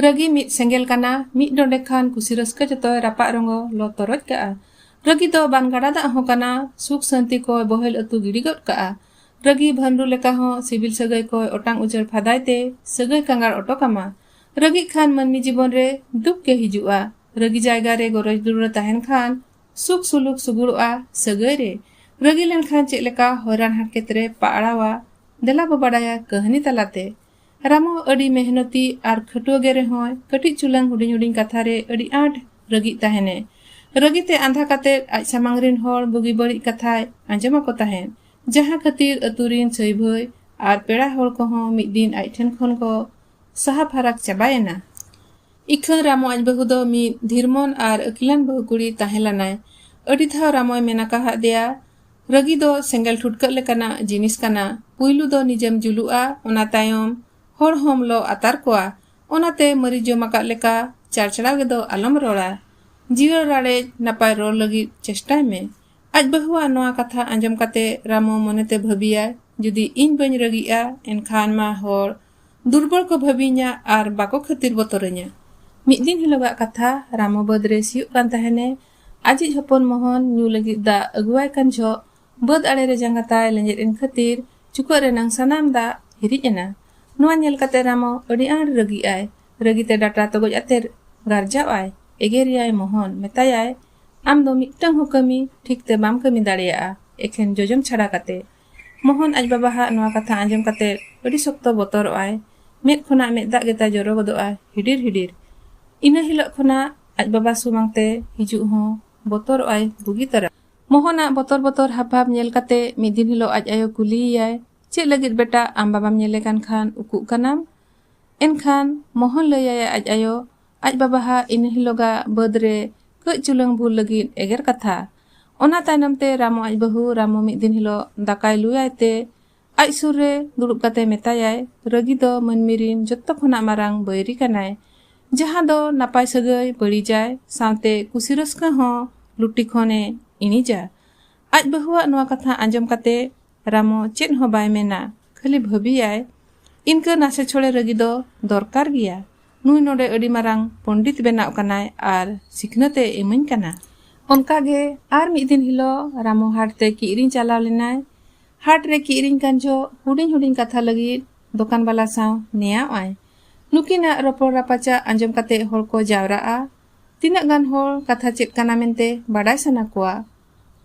ᱨᱟᱹᱜᱤ ᱢᱤᱫ ᱥᱮᱸᱜᱮᱞ ᱠᱟᱱᱟ ᱢᱤᱫ ᱰᱚᱸᱰᱮ ᱠᱷᱟᱱ ᱠᱩᱥᱤ ᱨᱟᱹᱥᱠᱟᱹ ᱡᱚᱛᱚᱭ ᱨᱟᱯᱟᱜ ᱨᱚᱸᱜᱚ ᱞᱚ ᱛᱚᱨᱚᱡ ᱠᱟᱜᱼᱟ ᱨᱟᱹᱜᱤ ᱫᱚ ᱵᱟᱱ ᱜᱟᱰᱟ ᱫᱟᱜ ᱦᱚᱸ ᱠᱟᱱᱟ ᱥᱩᱠ ᱥᱟᱹᱱᱛᱤ ᱠᱚᱭ ᱵᱚᱦᱮᱞ ᱟᱹᱛᱩ ᱜᱤᱰᱤ ᱜᱚᱫ ᱠᱟᱜᱼᱟ ᱨᱟᱹᱜᱤ ᱵᱷᱟᱹᱱᱰᱩ ᱞᱮᱠᱟ ᱦᱚᱸ ᱥᱤᱵᱤᱞ ᱥᱟᱹᱜᱟᱹᱭ ᱠᱚᱭ ᱚᱴᱟᱝ ᱩᱡᱟᱹᱲ ᱯᱷᱟᱫᱟᱭ ᱛᱮ ᱥᱟᱹᱜᱟᱹᱭ ᱠᱟᱸᱜᱟᱲ ᱚᱴᱚ ᱠᱟᱢᱟ ᱨᱟᱹᱜᱤ ᱠᱷᱟᱱ ᱢᱟᱹᱱᱢᱤ ᱡᱤᱵᱚᱱ ᱨᱮ ᱫᱩᱠ ᱜᱮ ᱦᱤᱡᱩᱜᱼᱟ ᱨᱟᱹᱜᱤ ᱡᱟᱭᱜᱟ ᱨᱮ ᱜᱚᱨᱚᱡᱽ ᱫᱩᱞᱟᱹᱲ ᱛᱟᱦᱮᱱ ᱠᱷᱟᱱ ᱥᱩᱠ ᱥᱩᱞᱩᱠ ᱥᱩᱜᱩᱲᱚᱜᱼᱟ ᱥᱟᱹᱜᱟᱹᱭ ᱨᱮ ᱨᱟᱹᱜᱤ ᱞᱮᱱᱠᱷᱟᱱ ᱪᱮᱫ ᱞᱮᱠᱟ ᱦᱚᱭᱨᱟᱱ ᱦᱟᱨᱠᱮᱛ ᱨᱮ ᱯᱟᱲᱟᱣᱟ ᱫᱮᱞᱟ ᱵᱚ ᱵᱟᱰᱟᱭᱟ ᱠᱟᱹᱦᱱᱤ ᱛᱟᱞᱟᱛᱮ ᱨᱟᱢᱚ ᱟᱹᱰᱤ ᱢᱮᱦᱱᱚᱛᱤ ᱟᱨ ᱠᱷᱟᱹᱴᱩᱣᱟᱹ ᱜᱮ ᱨᱮᱦᱚᱸᱭ ᱠᱟᱹᱴᱤᱡ ᱪᱩᱞᱟᱝ ᱦᱩᱰᱤᱧ ᱦᱩᱰᱤᱧ ᱠᱟᱛᱷᱟ ᱨᱮ ᱟᱹᱰᱤ ᱟᱸᱴ ᱨᱟᱹᱜᱤᱜ ᱛᱟᱦᱮᱱᱮ᱾ ᱨᱟᱹᱜᱤ ᱛᱮ ᱟᱸᱫᱷᱟ ᱠᱟᱛᱮ ᱟᱡ ᱥᱟᱢᱟᱝ ᱨᱤᱱ ᱦᱚᱲ ᱵᱩᱜᱤ ᱵᱟᱹᱲᱤᱡ ᱠᱟᱛᱷᱟᱭ ᱟᱸᱡᱚᱢ ᱟᱠᱚ ᱛᱟᱦᱮᱸᱫ᱾ ᱡᱟᱦᱟᱸ ᱠᱷᱟᱹᱛᱤᱨ ᱟᱹᱛᱩ ᱨᱤᱱ ᱥᱟᱹᱭ ᱵᱷᱟᱹᱭ ᱟᱨ ᱯᱮᱲᱟ ᱦᱚᱲ ᱠᱚᱦᱚᱸ ᱢᱤᱫ ᱫᱤᱱ ᱟᱡ ᱴᱷᱮᱱ ᱠᱷᱚᱱ ᱠᱚ ᱥᱟᱦᱟ ᱯᱷᱟᱨᱟᱠ ᱪᱟᱵᱟ ᱮᱱᱟ᱾ ᱤᱠᱷᱟᱹᱱ ᱨᱟᱢᱚ ᱟᱡ ᱵᱟᱹᱦᱩ ᱫᱚ ᱢᱤᱫ ᱫᱷᱤᱨᱢᱚᱱ ᱟᱨ ᱟᱹᱠᱤᱞᱟᱱ ᱵᱟᱹᱦᱩ ᱠᱩᱲᱤ ᱛᱟᱦᱮᱸ ᱞᱟᱱᱟᱭ᱾ ᱟᱹᱰᱤ ᱫᱷᱟᱣ ᱨᱟᱢᱚᱭ ᱢᱮᱱ ᱟᱠᱟ ᱦᱟᱫ ᱫᱮᱭᱟ, ᱨᱟᱹᱜᱤ ᱫᱚ ᱥᱮᱸᱜᱮᱞ ᱴᱷᱩᱴᱠᱟᱹᱜ ᱞᱮᱠᱟᱱᱟᱜ ᱡᱤᱱᱤᱥ ᱠᱟᱱᱟ ᱯᱩᱭᱞᱩ ᱫᱚ ᱱᱤᱡᱮᱢ ᱡᱩᱞᱩᱜᱼᱟ ᱚᱱᱟ ᱛᱟᱭᱚᱢ ᱦᱚᱲ ᱦᱚᱢ ᱞᱚ ᱟᱛᱟᱨ ᱠᱚᱣᱟ ᱚᱱᱟᱛᱮ ᱢᱟᱹᱨᱤ ᱡᱚᱢ ᱟᱠᱟᱫ ᱞᱮᱠᱟ ᱪᱟᱲᱪᱟᱲᱟᱣ ᱜᱮᱫᱚ ᱟᱞᱚᱢ ᱨᱚᱲᱟ ᱡᱤᱭᱟᱹᱲ ᱨᱟᱲᱮᱡ ᱱᱟᱯᱟᱭ ᱨᱚᱲ ᱞᱟᱹᱜᱤᱫ ᱪᱮᱥᱴᱟᱭ ᱢᱮ ᱟᱡ ᱵᱟᱹᱦᱩᱣᱟᱜ ᱱᱚᱣᱟ ᱠᱟᱛᱷᱟ ᱟᱸᱡᱚᱢ ᱠᱟᱛᱮ ᱨᱟᱢᱩ ᱢᱚᱱᱮᱛᱮ ᱵᱷᱟᱹᱵᱤᱭᱟᱭ ᱡᱩᱫᱤ ᱤᱧ ᱵᱟᱹᱧ ᱨᱟᱹᱜᱤᱜᱼᱟ ᱮᱱᱠᱷᱟᱱ ᱢᱟ ᱦᱚᱲ ᱫᱩᱨᱵᱚᱞ ᱠᱚ ᱵᱷᱟᱹᱵᱤᱧᱟ ᱟᱨ ᱵᱟᱠᱚ ᱠᱷᱟᱹᱛᱤᱨ ᱵᱚᱛᱚᱨᱟᱹᱧᱟ ᱢᱤᱫ ᱫᱤᱱ ᱦᱤᱞᱳᱜᱟᱜ ᱠᱟᱛᱷᱟ ᱨᱟᱢᱩ ᱵᱟᱹᱫᱽ ᱨᱮ ᱥᱤᱭᱳᱜ ᱠᱟᱱ ᱛᱟᱦᱮᱱᱮ ᱟᱡᱤᱡ ᱦᱚᱯᱚᱱ ᱢᱚᱦᱚᱱ ᱧᱩ ᱞᱟᱹᱜᱤᱫ ᱫᱟᱜ ᱟᱹᱜᱩᱣᱟᱭ ᱠᱟᱱ ᱡᱷᱚᱜ ᱵᱟᱹᱫᱽ ᱟᱲᱮ ᱨᱮ ᱡᱟᱸᱜᱟ ᱛᱟᱭ ᱞᱮᱸᱡᱮᱫ ᱮᱱ ᱠᱷᱟᱹᱛᱤᱨ ᱪᱩᱠᱟᱹᱜ ᱨᱮᱱᱟᱝ ᱥᱟᱱᱟᱢ ᱫᱟᱜ ᱦᱤᱨᱤᱡ ᱮᱱᱟ᱾ ᱱᱚᱣᱟ ᱧᱮᱞ ᱠᱟᱛᱮ ᱨᱟᱢᱚ ᱟᱹᱰᱤ ᱟᱸᱴ ᱨᱟᱹᱜᱤᱜ ᱟᱭ᱾ ᱨᱟᱹᱜᱤ ᱛᱮ ᱰᱟᱴᱟ ᱛᱚᱜᱚᱡ ᱟᱛᱮ ᱜᱟᱨᱡᱟᱣ ᱟᱭ᱾ ᱮᱜᱮᱨᱮᱭᱟᱭ ᱢᱚᱦᱚᱱ᱾ ᱢᱮᱛᱟᱭᱟᱭ, ᱟᱢ ᱫᱚ ᱢᱤᱫᱴᱟᱹᱝ ᱦᱚᱸ ᱠᱟᱹᱢᱤ ᱴᱷᱤᱠ ᱛᱮ ᱵᱟᱢ ᱠᱟᱹᱢᱤ ᱫᱟᱲᱮᱭᱟᱜᱼᱟ, ᱮᱠᱷᱮᱱ ᱡᱚᱡᱚᱢ ᱪᱷᱟᱰᱟ ᱠᱟᱛᱮ᱾ ᱢᱳᱦᱚᱱ ᱟᱡ ᱵᱟᱵᱟ ᱦᱟᱜ ᱱᱚᱣᱟ ᱠᱟᱛᱷᱟ ᱟᱸᱡᱚᱢ ᱠᱟᱛᱮ ᱟᱹᱰᱤ ᱥᱚᱠᱛᱚ ᱵᱚᱛᱚᱨᱚᱜ ᱟᱭ᱾ ᱢᱮᱫ ᱠᱷᱚᱱᱟᱜ ᱢᱮᱫ ᱫᱟᱜ ᱜᱮᱛᱟᱭ ᱡᱚᱨᱚ ᱜᱚᱫᱚᱜᱼᱟ ᱦᱤᱰᱤᱨ ᱦᱤᱰᱤᱨ᱾ ᱤᱱᱟᱹ ᱦᱤᱞᱚᱜ ᱠᱷᱚᱱᱟᱜ ᱟᱡ ᱵᱟᱵᱟ ᱥᱩᱢᱟᱝ ᱛᱮ ᱦᱤᱡᱩᱜ ᱦᱚᱸ ᱵᱚᱛᱚᱨᱚᱜ ᱟᱭ ᱵᱩᱜᱤ ᱛᱟᱨᱟ᱾ ᱢᱳᱦᱚᱱ ᱟᱜ ᱵᱚᱛᱚᱨ ᱵᱚᱛᱚᱨ ᱦᱟᱵᱽ ᱵᱷᱟᱵᱽ ᱧᱮᱞ ᱠᱟᱛᱮ ᱢᱤᱫ ᱫᱤᱱ ᱦᱤᱞᱚᱜ ᱟᱡ ᱟᱭᱳ ᱠᱩᱞᱤᱭᱮᱭᱟᱭ, ᱪᱮᱫ ᱞᱟᱹᱜᱤᱫ ᱵᱮᱴᱟ ᱟᱢ ᱵᱟᱵᱟᱢ ᱧᱮᱞᱮ ᱠᱟᱱ ᱠᱷᱟᱱ ᱩᱠᱩᱜ ᱠᱟᱱᱟᱢ? ᱮᱱᱠᱷᱟᱱ ᱢᱳᱦᱚᱱ ᱞᱟᱹᱭ ᱟᱭᱟᱭ ᱟᱡ ᱟᱭᱳ ᱟᱡ ᱵᱟᱵᱟ ᱦᱟᱜ ᱤᱱᱟᱹ ᱦᱤᱞᱚᱜᱟᱜ ᱵᱟᱹᱫᱽ ᱨᱮ ᱠᱟᱹᱡ ᱪᱩᱞᱟᱹᱝ ᱵᱷᱩᱞ ᱞᱟᱹᱜᱤᱫ ᱮᱜᱮᱨ ᱠᱟᱛᱷᱟ ᱚᱱᱟ ᱛᱟᱭᱱᱚᱢ ᱛᱮ ᱨᱟᱢᱚ ᱟᱡ ᱵᱟᱹᱦᱩ ᱨᱟᱢᱚ ᱢᱤᱫ ᱫᱤᱱ ᱦᱤᱞᱚᱜ ᱫᱟᱠᱟᱭ ᱞᱩᱭᱟᱭ ᱛᱮ ᱟᱡ ᱥᱩᱨ ᱨᱮ ᱫᱩᱲᱩᱵ ᱠᱟᱛᱮ ᱢᱮᱛᱟᱭᱟᱭ ᱨᱟᱹᱜᱤ ᱫᱚ ᱢᱟᱹᱱᱢᱤ ᱨᱤᱱ ᱡᱚᱛᱚ ᱠᱷᱚᱱᱟᱜ ᱢᱟᱨᱟᱝ ᱵᱟᱹᱭᱨᱤ ᱠᱟᱱᱟᱭ ᱡᱟᱦᱟᱸ ᱫᱚ ᱱᱟᱯᱟᱭ ᱥᱟᱹᱜᱟᱹᱭ ᱵᱟᱹᱲᱤᱡᱟᱭ ᱥᱟᱶᱛᱮ ᱠᱩᱥᱤ ᱨᱟᱹᱥᱠᱟᱹ ᱦᱚᱸ ᱞᱩᱴᱤ ᱠᱷᱚᱱᱮ ᱤᱬᱤᱡᱟ ᱟᱡ ᱵᱟᱹᱦᱩᱣᱟᱜ ᱱᱚᱣᱟ ᱠᱟᱛᱷᱟ ᱟᱸᱡᱚᱢ ᱠᱟᱛᱮ ᱨᱟᱢᱚ ᱪᱮᱫ ᱦᱚᱸ ᱵᱟᱭ ᱢᱮᱱᱟ ᱠᱷᱟᱹᱞᱤ ᱵᱷᱟᱹᱵᱤᱭᱟᱭ ᱤᱱᱠᱟᱹ ᱱᱟᱥᱮ ᱪᱷᱚᱲᱮ ᱨᱟᱹᱜᱤ ᱫᱚ ᱫᱚᱨᱠᱟᱨ ᱜᱮᱭᱟ ᱱᱩᱭ ᱱᱚᱰᱮ ᱟᱹᱰᱤ ᱢᱟᱨᱟᱝ ᱯᱚᱸᱰᱤᱛ ᱵᱮᱱᱟᱜ ᱠᱟᱱᱟᱭ ᱟᱨ ᱥᱤᱠᱷᱱᱟᱹᱛ ᱮ ᱤᱢᱟᱹᱧ ᱠᱟᱱᱟ ᱚᱱᱠᱟ ᱜᱮ ᱟᱨ ᱢᱤᱫ ᱫᱤᱱ ᱦᱤᱞᱳᱜ ᱨᱟᱢᱚ ᱦᱟᱴ ᱛᱮ ᱠᱤᱨᱤᱧ ᱪᱟᱞᱟᱣ ᱞᱮᱱᱟᱭ ᱦᱟᱴ ᱨᱮ ᱠᱤᱨᱤᱧ ᱠᱟᱱ ᱡᱚᱦᱚᱜ ᱦᱩᱰᱤᱧ ᱦᱩᱰᱤᱧ ᱠᱟᱛᱷᱟ ᱞᱟᱹᱜᱤᱫ ᱫᱚᱠᱟᱱ ᱵᱟᱞᱟ ᱥᱟᱶ ᱱᱮᱭᱟᱣ ᱟᱭ ᱱᱩᱠᱤᱱᱟᱜ ᱨᱚᱯᱚᱲ ᱨᱟᱯᱟᱪᱟᱜ ᱟᱸᱡᱚᱢ ᱠᱟᱛᱮ ᱦᱚᱲ ᱠᱚ ᱡᱟᱣᱨᱟᱜᱼᱟ ᱛᱤᱱᱟᱹᱜ ᱜᱟᱱ ᱦᱚᱲ ᱠᱟᱛᱷᱟ ᱪᱮᱫ ᱠᱟᱱᱟ ᱢᱮᱱᱛᱮ ᱵᱟᱰᱟᱭ ᱥᱟᱱᱟ ᱠᱚᱣᱟ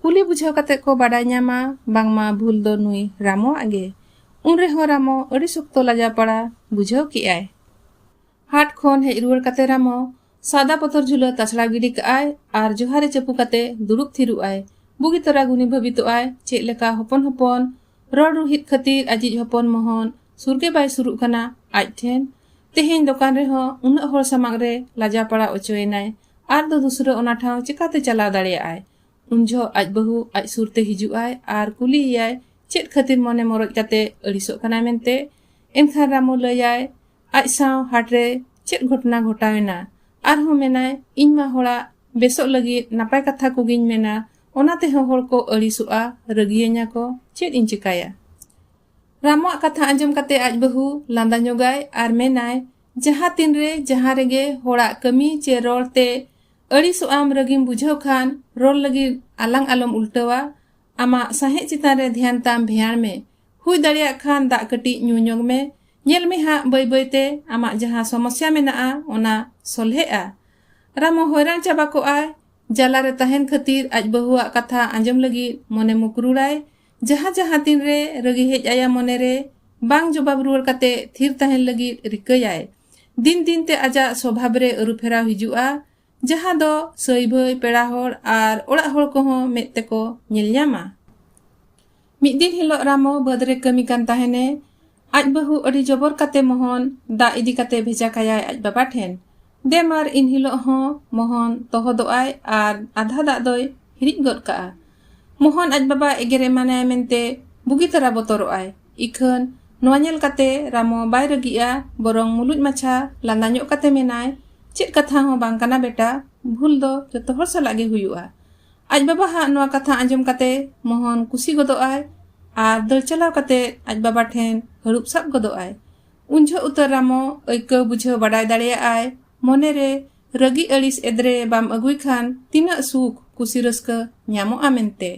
ᱠᱩᱞᱤ ᱵᱩᱡᱷᱟᱹᱣ ᱠᱟᱛᱮ ᱠᱚ ᱵᱟᱰᱟᱭ ᱧᱟᱢᱟ ᱵᱟᱝᱢᱟ ᱵᱷᱩᱞ ᱫᱚ ᱱᱩᱭ ᱨᱟᱢᱚᱣᱟᱜ ᱜᱮ ᱩᱱ ᱨᱮᱦᱚᱸ ᱨᱟᱢᱚ ᱟᱹᱰᱤ ᱥᱚᱠᱛᱚ ᱞᱟᱡᱟ ᱯᱟᱲᱟ ᱵᱩᱡᱷᱟᱹᱣ ᱠᱮᱜ ᱟᱭ ᱦᱟᱴ ᱠᱷᱚᱱ ᱦᱮᱡ ᱨᱩᱣᱟᱹᱲ ᱠᱟᱛᱮ ᱨᱟᱢᱚ ᱥᱟᱫᱟ ᱯᱚᱛᱚᱨ ᱡᱷᱩᱞᱟᱹ ᱛᱟᱪᱷᱲᱟᱣ ᱜᱤᱰᱤ ᱠᱟᱜ ᱟᱭ ᱟᱨ ᱡᱚᱦᱟᱨᱮ ᱪᱟᱹᱯᱩ ᱠᱟᱛᱮ ᱫᱩᱲᱩᱵ ᱛᱷᱤᱨᱩᱜ ᱟᱭ ᱵᱩᱜᱤ ᱛᱚᱨᱟ ᱜᱩᱱᱤ ᱵᱷᱟᱹᱵᱤᱛᱚᱜ ᱟᱭ ᱪᱮᱫ ᱞᱮᱠᱟ ᱦᱚᱯᱚᱱ ᱦᱚᱯᱚᱱ ᱨᱚᱲ ᱨᱩᱦᱤᱫ ᱠᱷᱟᱹᱛᱤᱨ ᱟᱡᱤᱡ ᱦᱚᱯᱚᱱ ᱢᱚᱦᱚᱱ ᱥᱩᱨ ᱜᱮ ᱵᱟᱭ ᱥᱩᱨᱩᱜ ᱠᱟᱱᱟ ᱟᱡ ᱴᱷᱮᱱ ᱛᱮᱦᱮᱧ ᱫᱚᱠᱟᱱ ᱨᱮᱦᱚᱸ ᱩᱱᱟᱹᱜ ᱦᱚᱲ ᱥᱟᱢᱟᱝ ᱨᱮ ᱞᱟᱡᱟ ᱯᱟᱲᱟ ᱚᱪᱚᱭᱮᱱᱟᱭ ᱟᱡ ᱫᱚ ᱫᱩᱥᱨᱟᱹ ᱚᱱᱟ ᱴᱷᱟᱶ ᱪᱮᱠᱟᱛᱮ ᱪᱟᱞᱟᱣ ᱫᱟᱲᱮᱭᱟᱜ ᱟᱭ ᱩᱱ ᱡᱚᱦᱚᱜ ᱟᱡ ᱵᱟᱹᱦᱩ ᱟᱡ ᱥᱩᱨ ᱛᱮ ᱦᱤᱡᱩᱜ ᱟᱭ ᱟᱨ ᱠᱩᱞᱤ ᱮᱭᱟᱭ ᱪᱮᱫ ᱠᱷᱟᱹᱛᱤᱨ ᱢᱚᱱᱮ ᱢᱚᱨᱚᱡ ᱠᱟᱛᱮ ᱟᱹᱲᱤᱥᱚᱜ ᱠᱟᱱᱟᱭ ᱢᱮᱱᱛᱮ ᱮᱱᱠᱷᱟᱱ ᱨᱟᱢᱩ ᱞᱟᱹᱭᱟᱭ ᱟᱡ ᱥᱟᱶ ᱦᱟᱴ ᱨᱮ ᱪᱮᱫ ᱜᱷᱚᱴᱱᱟ ᱜᱷᱚᱴᱟᱣ ᱮᱱᱟ ᱟᱨᱦᱚᱸ ᱢᱮᱱᱟᱭ ᱤᱧ ᱢᱟ ᱦᱚᱲᱟᱜ ᱵᱮᱥᱚᱜ ᱞᱟᱹᱜᱤᱫ ᱱᱟᱯᱟᱭ ᱠᱟᱛᱷᱟ ᱠᱚᱜᱤᱧ ᱢᱮᱱᱟ ᱚᱱᱟ ᱛᱮᱦᱚᱸ ᱦᱚᱲ ᱠᱚ ᱟᱹᱲᱤᱥᱚᱜᱼᱟ ᱨᱟᱹᱜᱤᱭᱟᱹᱧᱟ ᱠᱚ ᱪᱮᱫ ᱤᱧ ᱪᱤᱠᱟᱹᱭᱟ ᱨᱟᱢᱩᱣᱟᱜ ᱠᱟᱛᱷᱟ ᱟᱸᱡᱚᱢ ᱠᱟᱛᱮ ᱟᱡ ᱵᱟᱹᱦᱩ ᱞᱟᱸᱫᱟ ᱧᱚᱜᱟᱭ ᱟᱨ ᱢᱮᱱᱟᱭ ᱡᱟᱦᱟᱸ ᱛᱤᱱ ᱨᱮ ᱡᱟᱦᱟᱸ ᱨᱮᱜᱮ ᱦᱚᱲᱟᱜ ᱠᱟᱹᱢᱤ ᱪᱮ ᱨᱚᱲ ᱛᱮ ᱟᱹᱲᱤᱥᱚᱜ ᱟᱢ ᱨᱟᱹᱜᱤᱢ ᱵᱩᱡᱷᱟᱹᱣ ᱠᱷᱟᱱ ᱨᱚᱲ ᱞᱟᱹᱜᱤᱫ ᱟᱞᱟᱝ ᱟᱞᱚᱢ ᱩᱞᱴᱟᱹᱣᱟ ᱟᱢᱟᱜ ᱥᱟᱦᱮᱸᱫ ᱪᱮᱛᱟᱱ ᱨᱮ ᱫᱷᱮᱭᱟᱱ ᱛᱟᱢ ᱵᱷᱮᱭᱟᱬ ᱢᱮ ᱦᱩᱭ ᱫᱟᱲᱮᱭᱟᱜ ᱠᱷᱟᱱ ᱫᱟᱜ ᱠᱟᱹᱴᱤᱡ ᱧᱩ ᱧᱚᱜᱽ ᱢᱮ ᱧᱮᱞ ᱢᱮ ᱦᱟᱸᱜ ᱵᱟᱹᱭ ᱵᱟᱹᱭ ᱛᱮ ᱟᱢᱟᱜ ᱡᱟᱦᱟᱸ ᱥᱚᱢᱚᱥᱭᱟ ᱢᱮᱱᱟᱜᱼᱟ ᱚᱱᱟ ᱥᱚᱞᱦᱮᱜᱼᱟ ᱨᱟᱢᱚ ᱦᱚᱭᱨᱟᱱ ᱪᱟᱵᱟ ᱠᱚᱜᱼᱟᱭ ᱡᱟᱞᱟ ᱨᱮ ᱛᱟᱦᱮᱱ ᱠᱷᱟᱹᱛᱤᱨ ᱟᱡ ᱵᱟᱹᱦᱩᱣᱟᱜ ᱠᱟᱛᱷᱟ ᱟᱸᱡᱚᱢ ᱞᱟᱹᱜᱤᱫ ᱢᱚᱱᱮ ᱢᱩᱠᱨᱩᱲᱟᱭ ᱡᱟᱦᱟᱸ ᱡᱟᱦᱟᱸ ᱛᱤᱱ ᱨᱮ ᱨᱟᱹᱜᱤ ᱦᱮᱡ ᱟᱭᱟ ᱢᱚᱱᱮ ᱨᱮ ᱵᱟᱝ ᱡᱚᱵᱟᱵ ᱨᱩᱣᱟᱹᱲ ᱠᱟᱛᱮ ᱛᱷᱤᱨ ᱛᱟᱦᱮᱱ ᱞᱟᱹᱜᱤᱫ ᱨᱤᱠᱟᱹᱭᱟᱭ ᱫᱤᱱ ᱫᱤᱱ ᱛᱮ ᱟᱡᱟᱜ ᱥᱚᱵᱷᱟᱵ ᱨᱮ ᱟᱹᱨᱩᱯᱷᱮᱨᱟᱣ ᱦᱤᱡᱩᱜᱼᱟ ᱡᱟᱦᱟᱸ ᱫᱚ ᱥᱟᱹᱭ ᱵᱷᱟᱹᱭ ᱯᱮᱲᱟ ᱦᱚᱲ ᱟᱨ ᱚᱲᱟᱜ ᱦᱚᱲ ᱠᱚᱦᱚᱸ ᱢᱮᱫ ᱛᱮᱠᱚ ᱧᱮᱞ ᱧᱟᱢᱟ ᱢᱤᱫ ᱫᱤᱱ ᱦᱤᱞᱳᱜ ᱨᱟᱢᱚ ᱵᱟᱹᱫᱽ ᱨᱮ ᱠᱟᱹᱢᱤ ᱠᱟᱱ ᱛᱟᱦᱮᱱᱮ ᱟᱡ ᱵᱟᱹᱦᱩ ᱟᱹᱰᱤ ᱡᱚᱵᱚᱨ ᱠᱟᱛᱮ ᱢᱚᱦᱚᱱ ᱫᱟᱜ ᱤᱫᱤ ᱠᱟᱛᱮ ᱵᱷᱮᱡᱟ ᱠᱟᱭᱟᱭ ᱟᱡ ᱵᱟᱵᱟ ᱴᱷᱮᱱ ᱫᱮ ᱢᱟᱨ ᱤᱱ ᱦᱤᱞᱳᱜ ᱦᱚᱸ ᱢᱚᱦᱚᱱ ᱛᱚᱦᱚᱫᱚᱜ ᱟᱭ ᱟᱨ ᱟᱫᱷᱟ ᱫᱟᱜ ᱫᱚᱭ ᱦᱤᱨᱤᱡ ᱜᱚᱫ ᱠᱟᱜᱼᱟ ᱢᱚᱦᱚᱱ ᱟᱡ ᱵᱟᱵᱟ ᱮᱜᱮᱨ ᱮᱢᱟᱱᱟᱭ ᱢᱮᱱᱛᱮ ᱵᱩᱜᱤ ᱛᱟᱨᱟ ᱵᱚᱛᱚᱨᱚᱜ ᱟᱭ ᱤᱠᱷᱟᱹᱱ ᱱᱚᱣᱟ ᱧᱮᱞ ᱠᱟᱛᱮ ᱨᱟᱢᱚ ᱵᱟᱭ ᱨᱟᱹᱜᱤᱜᱼᱟ ᱵᱚᱨᱚᱝ ᱢᱩᱞᱩᱡ ᱢᱟᱪᱷᱟ ᱞᱟᱸᱫᱟ ᱧᱚᱜ ᱠᱟᱛᱮ ᱢᱮᱱᱟᱭ ᱪᱮᱫ ᱠᱟᱛᱷᱟ ᱦᱚᱸ ᱵᱟᱝ ᱠᱟᱱᱟ ᱵᱮᱴᱟ ᱵᱷᱩᱞ ᱫᱚ ᱡᱚᱛᱚ ᱦᱚᱲ ᱥᱟᱞᱟᱜ ᱜᱮ ᱦᱩᱭᱩᱜᱼᱟ ᱟᱡ ᱵᱟᱵᱟ ᱦᱟᱜ ᱱᱚᱣᱟ ᱠᱟᱛᱷᱟ ᱟᱸᱡᱚᱢ ᱠᱟᱛᱮ ᱢᱳᱦᱚᱱ ᱠᱩᱥᱤ ᱜᱚᱫᱚᱜ ᱟᱭ ᱟᱨ ᱫᱟᱹᱲ ᱪᱟᱞᱟᱣ ᱠᱟᱛᱮ ᱟᱡ ᱵᱟᱵᱟ ᱴᱷᱮᱱ ᱦᱟᱹᱨᱩᱵ ᱥᱟᱵ ᱜᱚᱫᱚᱜ ᱟᱭ ᱩᱱ ᱡᱷᱚᱜ ᱩᱛᱟᱹᱨ ᱨᱟᱢᱚ ᱟᱹᱭᱠᱟᱹᱣ ᱵᱩᱡᱷᱟᱹᱣ ᱵᱟᱰᱟᱭ ᱫᱟᱲᱮᱭᱟᱜ ᱟᱭ ᱢᱚᱱᱮ ᱨᱮ ᱨᱟᱹᱜᱤ ᱟᱹᱲᱤᱥ ᱮᱫᱨᱮ ᱵᱟᱢ ᱟᱹᱜᱩᱭ ᱠᱷᱟᱱ ᱛᱤᱱᱟᱹᱜ ᱥᱩᱠ ᱠᱩᱥᱤ ᱨᱟᱹᱥᱠᱟᱹ ᱧᱟᱢᱚᱜᱼᱟ ᱢᱮᱱᱛᱮ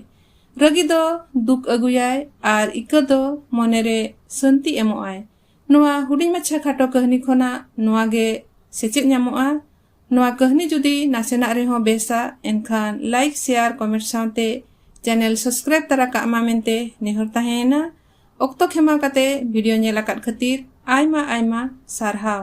ᱨᱟᱹᱜᱤ ᱫᱚ ᱫᱩᱠ ᱟᱹᱜᱩᱭᱟᱭ ᱟᱨ ᱤᱠᱟᱹ ᱫᱚ ᱢᱚᱱᱮ ᱨᱮ ᱥᱟᱹᱱᱛᱤ ᱮᱢᱚᱜ ᱟᱭ ᱱᱚᱣᱟ ᱦᱩᱰᱤᱧ ᱢᱟᱪᱷᱟ ᱠᱷᱟᱴᱚ ᱠᱟᱹᱦᱱᱤ ᱠᱷᱚᱱᱟᱜ ᱱᱚᱣᱟ ᱜᱮ ᱥᱮᱪᱮᱫ ᱧᱟᱢᱚᱜᱼᱟ ᱱᱚᱣᱟ ᱠᱟᱹᱦᱱᱤ ᱡᱩᱫᱤ ᱱᱟᱥᱮᱱᱟᱜ ᱨᱮᱦᱚᱸ ᱵᱮᱥᱟ ᱮᱱᱠᱷᱟᱱ ᱞᱟᱭᱤᱠ ᱥᱮᱭᱟᱨ ᱠᱚᱢᱮᱱᱴ ᱥᱟᱶᱛᱮ ᱪᱮᱱᱮᱞ ᱥᱟᱵᱥᱠᱨᱟᱭᱤᱵ ᱛᱟᱨᱟ ᱠᱟᱜ ᱢᱟ ᱢᱮᱱᱛᱮ ᱱᱮᱦᱚᱨ ᱛᱟᱦᱮᱸᱭᱮᱱᱟ ᱚᱠᱛᱚ ᱠᱷᱮᱢᱟᱣ ᱠᱟᱛᱮ ᱵᱷᱤᱰᱤᱭᱳ ᱧᱮᱞ ᱟᱠᱟᱫ ᱠᱷᱟᱹᱛᱤᱨ ᱟᱭᱢᱟ ᱟᱭᱢᱟ ᱥᱟᱨᱦᱟᱣ